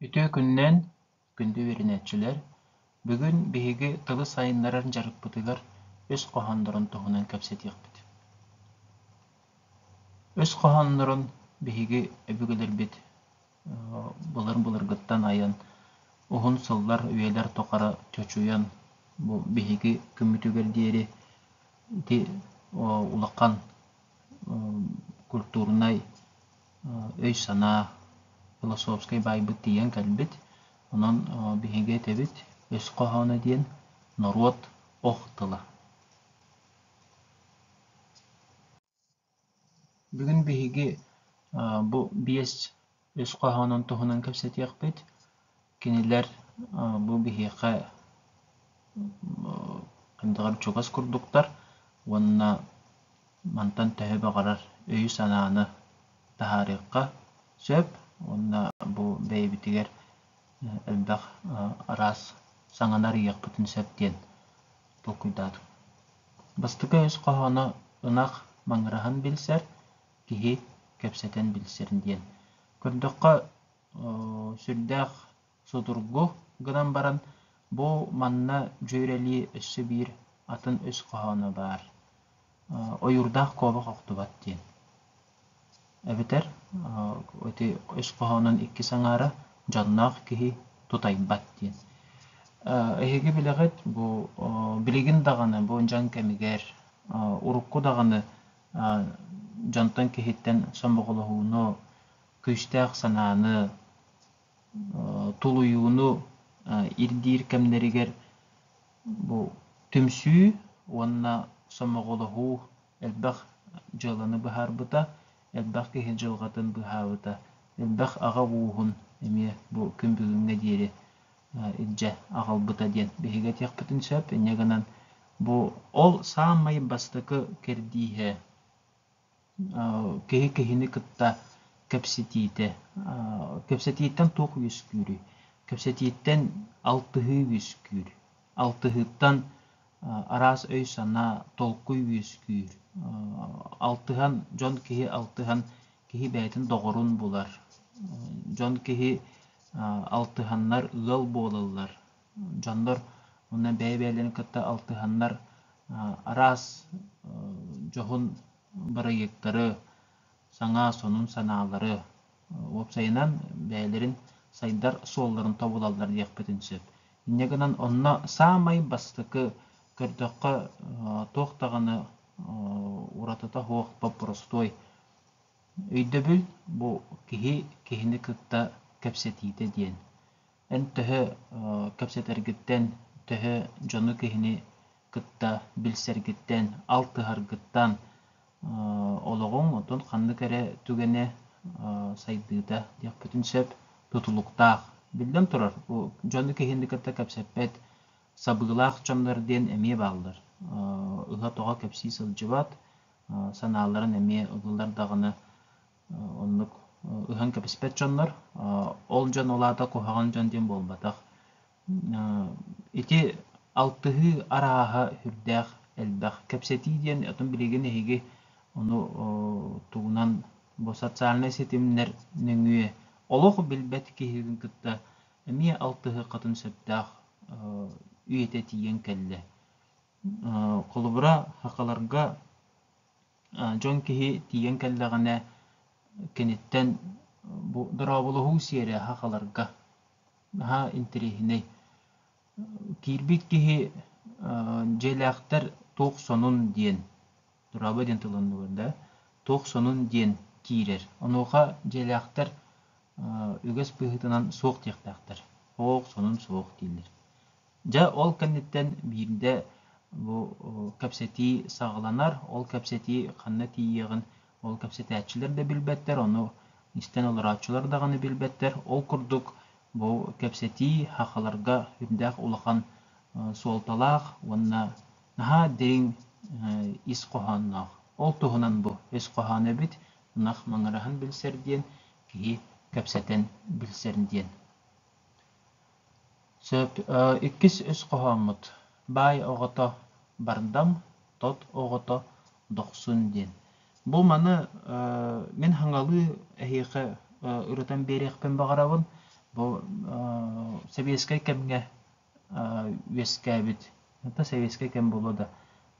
Үтүө күннээн күндү үөрэнээччилэр, бүгүн биһиги тылы сайыннарар дьарыкпытыгар үс хоһооннорун туһунан кэпсэтиэхпит. Үс хоһооннорун биһиги өбүгэлэрбит былыр-былыргыттан айан уһун сыллар үйэлэр тухары чочуйан бу биһиги күммүтүгэр диэри ити улахан культурнай өй-санаа философскай баайбыт тиийэн кэлбит онон биһиги этэбит өс хоһооно диэн норуот ох тыла Бүгүн биһиги бу биэс үс хоһоонун туһунан кэпсэтиэхпит. Кинилэр бу биһиэхэ хайдаҕар чугас курдуктар уонна мантан төһө баҕарар өйү-санааны таһаарыахха сөп уонна бу бэйэбитигэр элбэх араас саҥаны арыйыахпытын сөп диэн толкуйдаатым. Бастакы өс хоһооно ынах маҥыраһын билсэр, киһи кэпсэтэн билсэр диэн. Көрдөххө, сүрдээх судургу гынан баран, бу манна дьүөрэлии өссө биир атын өс хоһооно баар. Ойуурдаах куобах охтубат диэн. эбэтэр ити ис хоһоонун иккис аҥаара дьонноох киһи тутайбат диэн. Эһиги билэҕит бу билигин даҕаны бу дьаҥ кэмигэр урукку даҕаны дьонтон киһиттэн сомоҕолоһууну, күүстээх санааны тулуйууну ирдиир кэмнэригэр бу түмсүү уонна сомоҕолоһуу элбэх дьыаланы быһаарбыта, элбэх киһи дьылҕатын быһаабыта, элбэх аҕа ууһун эмиэ бу күн бүгүҥҥэ диэри илдьэ аҕалбыта диэн биһиги этиэхпитин сөп. Инньэ гынан бу ол саамай бастакы кэрдииһэ Киһи киһини кытта кэпсэтиитэ. Кэпсэтииттэн туох үөскүүрүй? Кэпсэтииттэн алтыһыы үөскүүр. Алтыһыыттан араас өй-санаа, толкуй үөскүүр. Алтыһан, дьон киһи алтыһан, киһи бэйэтин доҕорун булар. Дьон киһи алтыһаннар ыал буолаллар. дьоннор уонна бэйэ-бэйэлэрин кытта алтыһаннар араас дьоһун бырайыактары, саҥа сонун санаалары уопсайынан бэйэлэрин сайдар суолларын тобулаллар диэхпитин сөп. Инньэ гынан онно саамай бастакы көрдөххө туох даҕаны уратыта суох боппуростуой өйдөбүл, бу киһи киһини кытта кэпсэтиитэ диэн. Эн төһө кэпсэтэргиттэн, төһө дьону киһини кытта билсэргиттэн, алтыһаргыттан олоҕуҥ отон ханнык эрэ түгэнэ сайдыыта диэхпитин сөп тутулуктаах. Биллэн турар, дьону киһини кытта кэпсэппэт сабыылаах дьоннор диэн эмиэ бааллар. Ыла-тоҕо кэпсии сылдьыбат, санааларын эмиэ ылылар даҕаны оннук ыһан кэбиспэт дьоннор. Ол дьон ол аата куһаҕан дьон диэн буолбатах. Ити алтыһыы арааһа сүрдээх элбэх. Кэпсэтии диэн отон билигин эһиги ону тугунан бу социальнай ситимнэр нөҥүө олох билбэт киһитин кытта эмиэ алтыһыаххытын сөптөөх үйэтэ тиийэн кэллэ. Холобура, хакаларга дьон киһи тиийэн кэллэҕинэ киниттэн бу дорооболоһуу сиэрэ хааларга наһаа интэриэһинэй. Киирбит киһи дьиэлээхтэр туох сонун диэн дорообо диэн тылыннылар да туох сонун диэн киирэр. Онуоха дьиэлээхтэр үгэс быһыытынан суох диэхтээхтэр. Оох сонун суох дииллэр. Дьэ, ол кэнниттэн биирдэ бу кэпсэтии саҕаланар. Ол кэпсэтии ханна тиийиэҕин ол кэпсэтээччилэр да билбэттэр, ону истэн олорооччулар даҕаны билбэттэр. Ол курдук, бу кэпсэтии сахаларга үрдээх улахан суолталаах уонна наһаа дириҥ ис хоһоонноох. Ол туһунан бу ис хоһооно эбит, ынах маҥыраһын билсэр диэн, киһи кэпсэтэн билсэр диэн. Сөп, иккис үс хоһооммут «Баай оҕото бардам, тот оҕото дохсун» диэн. Бу маны мин хаҥалыы эһиэхэ ырытан биэриэхпин баҕарабын. Бу сэбиэскэй кэмҥэ үөскээбит, хата сэбиэскэй кэм буолуо да,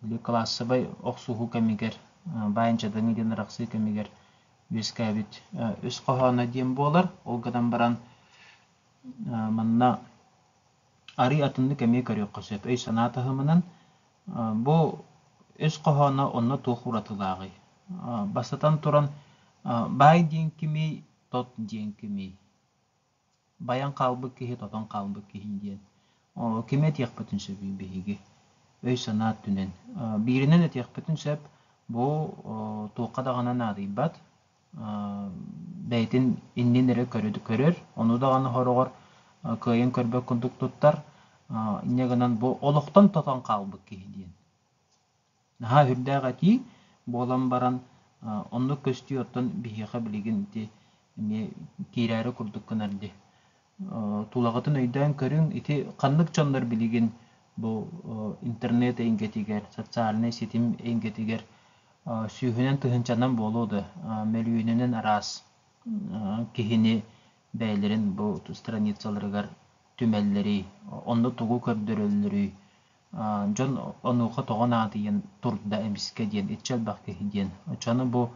били кылаассабай охсуһуу кэмигэр, баайын-дьадаҥы диэн арахсыы кэмигэр үөскээбит үс хоһооно диэн буолар. Ол гынан баран Манна арыый атыннык эмиэ көрүөххэ сөп. Өй-санаа таһымынан бу өс хоһооно онно туох уратылааҕый? Бастатан туран, баай диэн кимий, тот диэн кимий? Байан хаалбыт киһи, тотон хаалбыт киһи диэн. Кими этиэхпитин сөбүй биһиги? Өй-санаа өттүнэн. Бииринэн этиэхпитин сөп, бу туохха даҕаны наадыйбат, бэйэтин иннин эрэ көрөр, ону даҕаны хороҕор кыайан көрбөт курдук туттар. Инньэ гынан бу олохтон тотон хаалбыт киһи диэн. Наһаа үрдээх этии буолан баран оннук көстүү оттон биһиэхэ билигин ити эмиэ киирээри курдук гынар дии. Тулаҕытын өйдөөн көрүҥ, ити ханнык дьоннор билигин бу интернет эйгэтигэр, социальнай ситим эйгэтигэр сүүһүнэн тыһыынчанан буолуо да, мөлүйүөнүнэн араас киһини бэйэлэрин бу страницаларыгар түмэллэрий, онно тугу көрдөрөллөрүй, дьон онуоха тоҕо наадыйан турда эмискэ диэн иччи элбэх киһи диэн. Оччону бу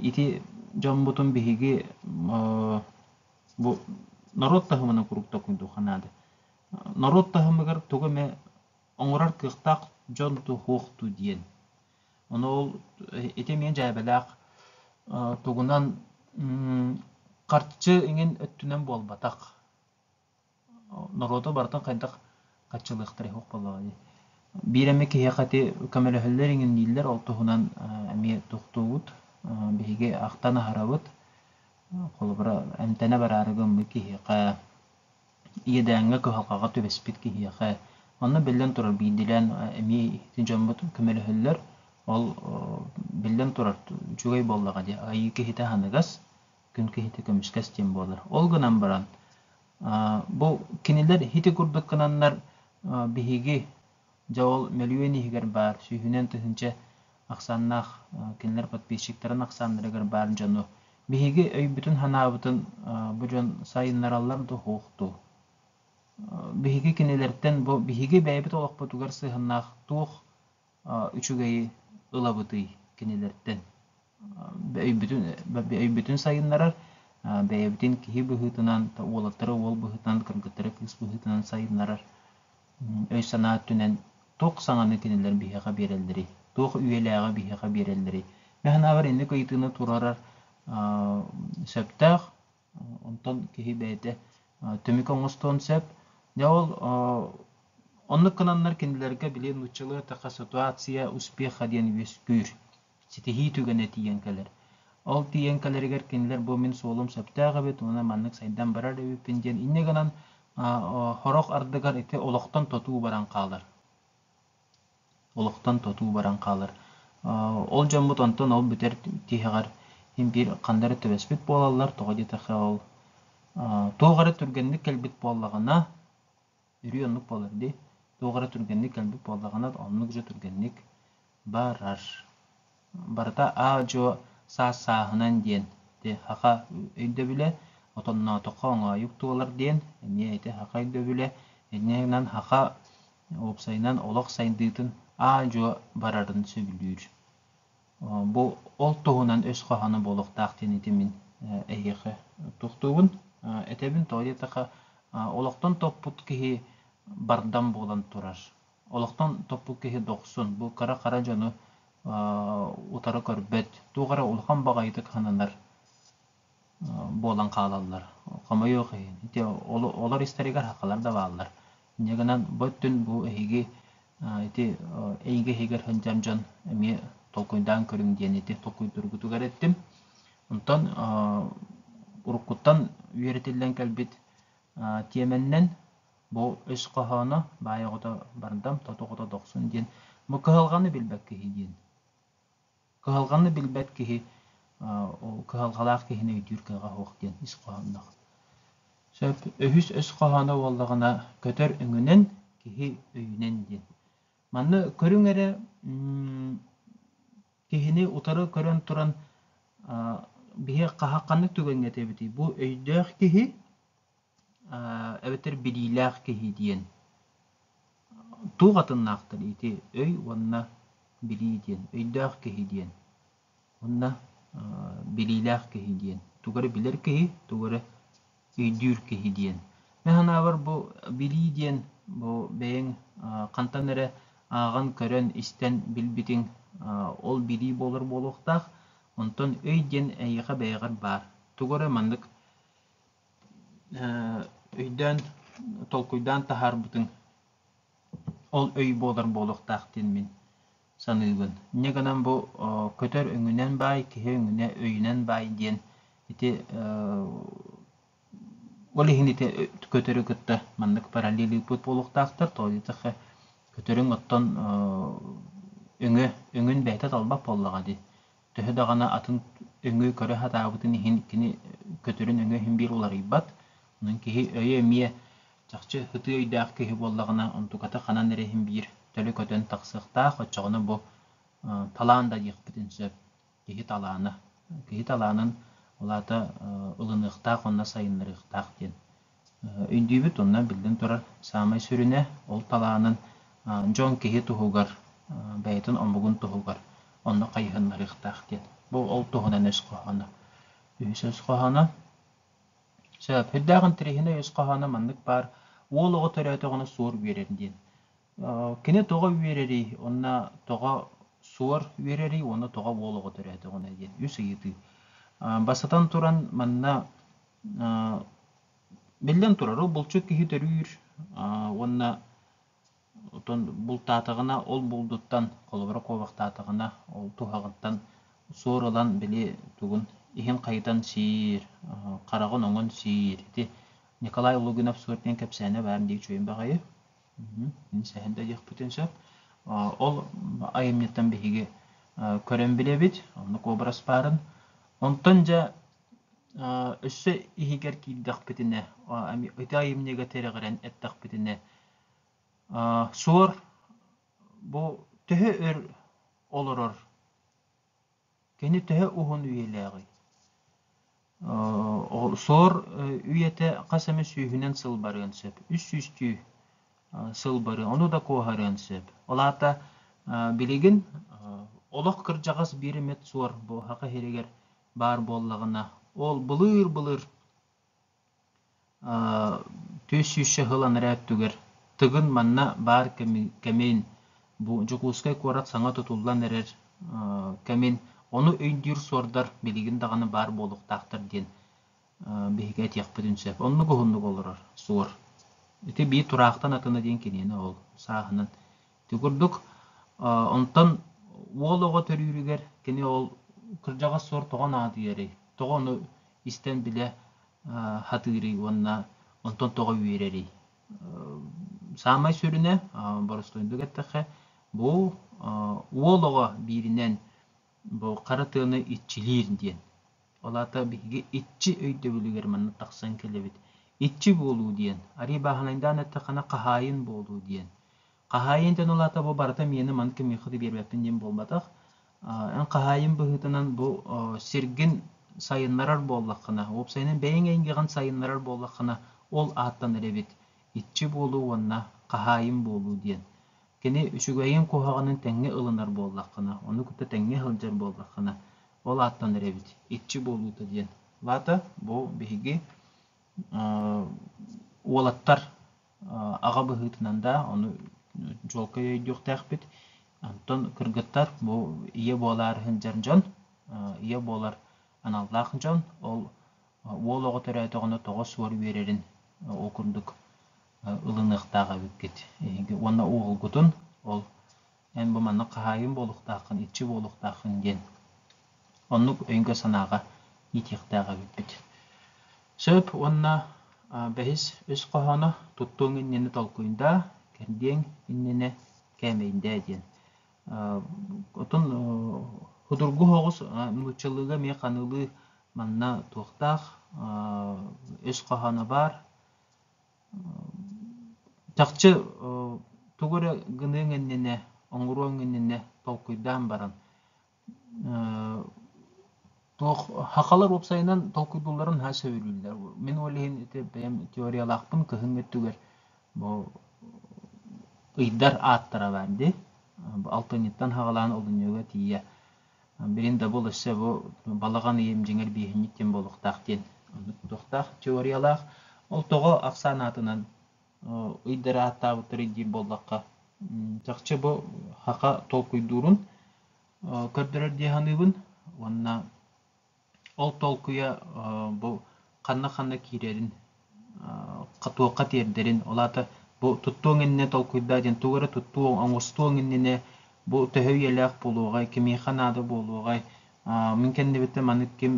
ити дьоммутун биһиги бу норуот таһымынан куруук токуйдуохха наада. Норуот таһымыгар тугу эмэ оҥорор кыахтаах дьон туох дуу диэн. Ону ол ити эмиэ дьээбэлээх тугунан харчы иҥин өттүнэн буолбатах норуоту барытын хайдах хаччылыахтарай суох буоллаҕа дии биир эмэ киһиэхэ ити көмөлөһөллөр иҥин дииллэр ол туһунан эмиэ тохтуубут биһиги ахтан аһарабыт холобура эмтэнэ бараары гыммыт киһиэхэ иэдээҥҥэ кыһалҕаҕа түбэспит киһиэхэ манна биллэн турар биирдиилээн эмиэ ити дьоммут көмөлөһөллөр ол биллэн турар үчүгэй буоллаҕа дии айыы киһитэ аһыныгас күн киһитэ көмүскэс диэн буолар. Ол гынан баран, бу кинилэр һити курдук гынаннар биһиги дьэ ол мөлүйүөн иһигэр баар сүүһүнэн тыһыынча ахсааннаах кинилэр подписчиктарын ахсааннарыгар баар дьону биһиги өйбүтүн-санаабытын бу дьон сайыннараллар да уһуох дуу? Биһиги кинилэртэн бу биһиги бэйэбит олохпутугар сыһыннаах туох үчүгэйи ылабытый кинилэртэн? Өйбүтүн сайыннарар, бэйэбитин киһи быһыытынан, уолаттары уол быһыытынан, кыргыттары кыыс быһыытынан сайыннарар өй-санаа өттүнэн туох саҥаны кинилэр биһиэхэ биэрэллэрий, туох үйэлээҕи биһиэхэ биэрэллэрий? Мен санаабар инник ыйытыыны туруорар сөптөөх. Онтон киһи бэйэтэ түмүк оҥостуон сөп. Дьэ ол оннук гынаннар кинилэргэ били нууччалыы такая ситуация успеха диэн үөскүүр ситиһии түгэнэ тиийэн кэлэр. Ол тиийэн кэлэригэр кинилэр бу мин суолум сөптөөх эбит уонна маннык сайдан барар эбиппин диэн инньэ гынан сорох ардыгар ити олохтон тотуу баран хаалар. олохтон тотуу баран хаалар. Ол дьоммут онтон ол бүтэр тиһэҕэр биир ханна эрэ түбэспит буолаллар, тоҕо диэтэххэ ол туох эрэ түргэнник кэлбит буоллаҕына, үрүү оннук буолар дии. Туох эрэ түргэнник кэлбит буоллаҕына, оннук дьэ түргэнник барар. барыта аа-дьуо саас-сааһынан диэн хаха өйдөбүлэ отонноотоххо оҥоойук туолар диэн эмиэ ити хаха өйдөбүлэ иннинэн хаха уопсайынан олох сайдыытын аа-дьуо барарын сөбүлүүр бу ол туһунан өс хоһооно буолуохтаах диэн ити мин эһиэхэ тустуубун этэбин тоҕо диэтэхэ олохтон топпут киһи бардам буолан турар олохтон топпут киһи дохсун, бу кыра-хара дьону утары көрбөт, туох эрэ улахан баҕайытык сананар буолан хаалаллар. Хомойуох иһин, ити олор истэригэр хахалар да бааллар. Дьэ гынан бу өттүн бу эһиги ити эйгэ иһигэр сылдьар дьон эмиэ толкуйдаан көрүҥ диэн ити толкуйдуургутугар эттим. Онтон уруккуттан үөрэтиллэн кэлбит тиэмэннэн Бу өс хоһооно баай оҕото бардам, тоту оҕото дохсун диэн. Бу кыһалҕаны билбэт киһи диэн. Кыһалҕаны билбэт киһи ол кыһалҕалаах киһини өйдүүр кыаҕа суох диэн ис хоһоонноох. Сөп үһүс өс хоһооно буоллаҕына көтөр өҥүнэн, киһи өйүнэн диэн. Манна көрүҥ эрэ киһини утары көрөн туран биһи хаһа ханнык түгэҥҥэ этэбитий? Бу өйдөөх киһи эбэтэр билиилээх киһи диэн туох атыннаахтар ити өй уонна билии диэн өйдөөх киһи диэн уонна билиилээх киһи диэн тугу эрэ билэр киһи тугу эрэ өйдүүр киһи диэн мен санаабар бу билии диэн бу бэйэҥ хантан эрэ ааҕан көрөн истэн билбитиҥ ол билии буолар буолуохтаах онтон өй диэн эйиэхэ бэйэҕэр баар тугу эрэ маннык өйдөөн, толкуйдаан таһаарбытыҥ ол өй буолар буолуохтаах диэн мин саныыбын. Инньэ гынан бу көтөр өҥүнэн баай, киһи өҥүнэ өйүнэн баай диэн ити ол иһин ити көтөрү кытта маннык параллелируйбут буолуохтаахтар. Тоҕо көтөрүҥ оттон өҥө өҥүн бэйэтэ талбат буоллаҕа дии. төһө даҕаны атын өҥөй көрө сатаабытын иһин кини көтөрүн өҥө иһин биир уларыйбат. Онон киһи өйө эмиэ чахчы ытыы өйдөөх киһи буоллаҕына онтуката ханан эрэ иһин биир төлө көтөн тахсыахтаах, оччоҕуна бу талаан да диэхпитин сөп. Киһи талаана. Киһи талаанын ол аата ылыныахтаах уонна сайыннарыахтаах диэн Өйдүүбүт уонна биллэн турар, саамай сүрүнэ ол талаанын дьон киһи туһугар, бэйэтин омугун туһугар онно хайыһыннарыахтаах диэн. Бу ол туһунан өс хоһооно. Үһүс өс хоһооно. Сөп. Үрдээх интэриэһинэй өс хоһооно маннык баар. Уол оҕо төрөөтөҕүнэ суор үөрэн диэн. Кини тоҕо үөрэрий, уонна тоҕо суор үөрэрий, уонна тоҕо уол оҕо төрөөтөҕүнэ диэн үс ыйытыы. Бастатан туран, манна биллэн турар, ол булчут киһи төрүүр уонна оттон бултаатаҕына ол булдуттан, холобура куобахтаатаҕына ол туһаҕыттан суор ылан били тугун иһин хайытан сиир, хараҕын оҥон сиир. Ити Николай Лугинов суор диэн кэпсээнэ баар дии чуйун баҕайы. Мин сэһэн да диэхпитин сөп. Ол айымньыттан биһиги көрөн билэбит, онно куобарас баарын. Онтон дьэ өссө иһигэр киирдэхпитинэ, ити айымньыга тирэҕирэн эттэхпитинэ, суор бу төһө өр олорор Кини төһө уһун үйэлээҕий? Соор үйэтэ хас эмэ сүүһүнэн сыл барыан сөп. Үс сүүстүү сыл барыан, ону да куоһарыан сөп. Ол аата билигин олох кырдьаҕас биир эмит суор бу саха иһиригэр баар буоллаҕына, ол былыыр-былыр Түөрт сүүс саһыл анараа өттүгэр Тыгын манна баар кэмин бу Дьокуускай куорат саҥа тутуллан эрэр кэмин ону өйдүүр-суордар билигин даҕаны баар буолуохтаахтар диэн биһиги этиэхпитин сөп. Оннук уһуннук олорор, суор. Ити биир тураахтан атына диэн киниэнэ ол, сааһынан Ити курдук, онтон уол оҕо төрүүрүгэр кини ол кырдьаҕас суор тоҕо наадыйарый, тоҕо ону истэн билэ сатыырый уонна онтон тоҕо үөрэрий? Саамай сүрүнэ, боростуойдук эттэххэ, бу уол оҕо бииринэн бу хара тыаны иччилиир диэн. Ол аата биһиги иччи өйдөбүлүгэр манна тахсан кэлэбит. Иччи буолуу диэн, арыый бааһынайдаан эттэххинэ, хаһаайын буолуу диэн. Хаһаайын диэн ол аата бу барыта миэнэ маны кимиэхэ да биэрбэппин диэн буолбатах. Эн хаһаайын быһыытынан бу сиргин сайыннарар буоллаххына, уопсайынан бэйэҥ эйгэҕин сайыннарар буоллаххына, ол ааттанар эбит. Иччи буолуу уонна хаһаайын буолуу диэн. Кини үчүгэйин куһаҕанын тэҥҥэ ылынар буоллаххына, ону кытта тэҥҥэ сылдьар буоллаххына, ол ааттанар эбит иччи буолуута диэн вата бу биһиги уолаттар аҕа быһыытынан да ону чуолкай өйдүөхтээхпит оттон кыргыттар бу ийэ буолаары сылдьар дьон ийэ буолар аналлаах дьон ол уол оҕо төрөөтөҕүнэ тоҕо суор үөрэрин ол курдук ылыныахтаах эбиккит уонна уолгутун ол Эн бу маннык хаһаайын буолуохтааххын, иччи буолуохтааххын диэн оннук өйгө-санааҕа иитиэхтээх эбиппит. Сөп уонна бэһис, үс хоһооно туттуоҥ иннинэ толкуйдаа, кэрдиэҥ иннинэ кээмэйдээ диэн. Отун судургу оҕус нууччалыыга эмиэ ханыылыы манна туохтаах үс хоһооно баар, чахчы тугу эрэ гыныаҥ иннинэ оҥоруоҥ иннинэ толкуйдаан баран туох сахалар уопсайынан толкуйдуулларын наһаа сөбүлүүллэр мин ол иһин ити бэйэм теориялаахпын кыһын өттүгэр бу ыйдар ааттара баар дии алтынньыттан саҕалаан олунньуга тиийэ Билин да бұл өссө бу балаҕан ыйым дьиҥэр бииһинньик диэн буолуохтаах диэн туохтаах теориялаах. Ол тоҕо ахсаан аатынан ыйдары ааттаабыттар диир буоллахха, чахчы бу саха толкуйдуурун көрдөрөр дии саныыбын уонна Ол толкуйа бу ханна-ханна киирэрин, туохха тиэрдэрин, ол аата бу туттуоҥ иннинэ толкуйдаа диэн тугу эрэ туттуоҥ, оҥостуоҥ иннинэ бу төһө үйэлээх буолуоҕай, кимиэхэ наада буолуоҕай, мин кэннибитэ маннык ким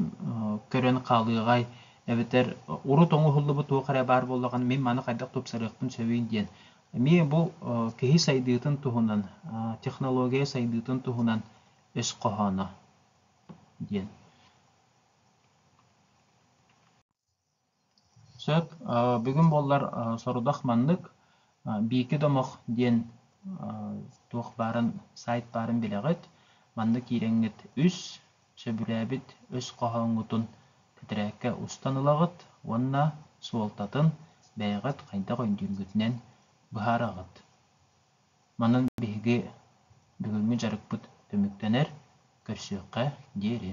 көрөн хаалыаҕай, эбэтэр урут оҥоһуллубут туох эрэ баар буоллаҕына мин маны хайдах тупсарыахпын сөбүй диэн. Эмиэ бу киһи сайдыытын туһунан, технология сайдыытын туһунан өс хоһооно. диэн сөп бүгүн буоллар сорудах маннык биики домох диэн туох баарын сайт баарын билэҕит манна киирэҥҥит үс сөбүлээбит өс хоһооҥҥутун тэтэрээккэ устан ылаҕыт уонна суолтатын бэйэҕит хайдах өйдүүргүтүнэн быһаараҕыт Манан биһиги бүгүҥҥү дьарыкпыт түмүктэнэр, көрсүөххэ диэри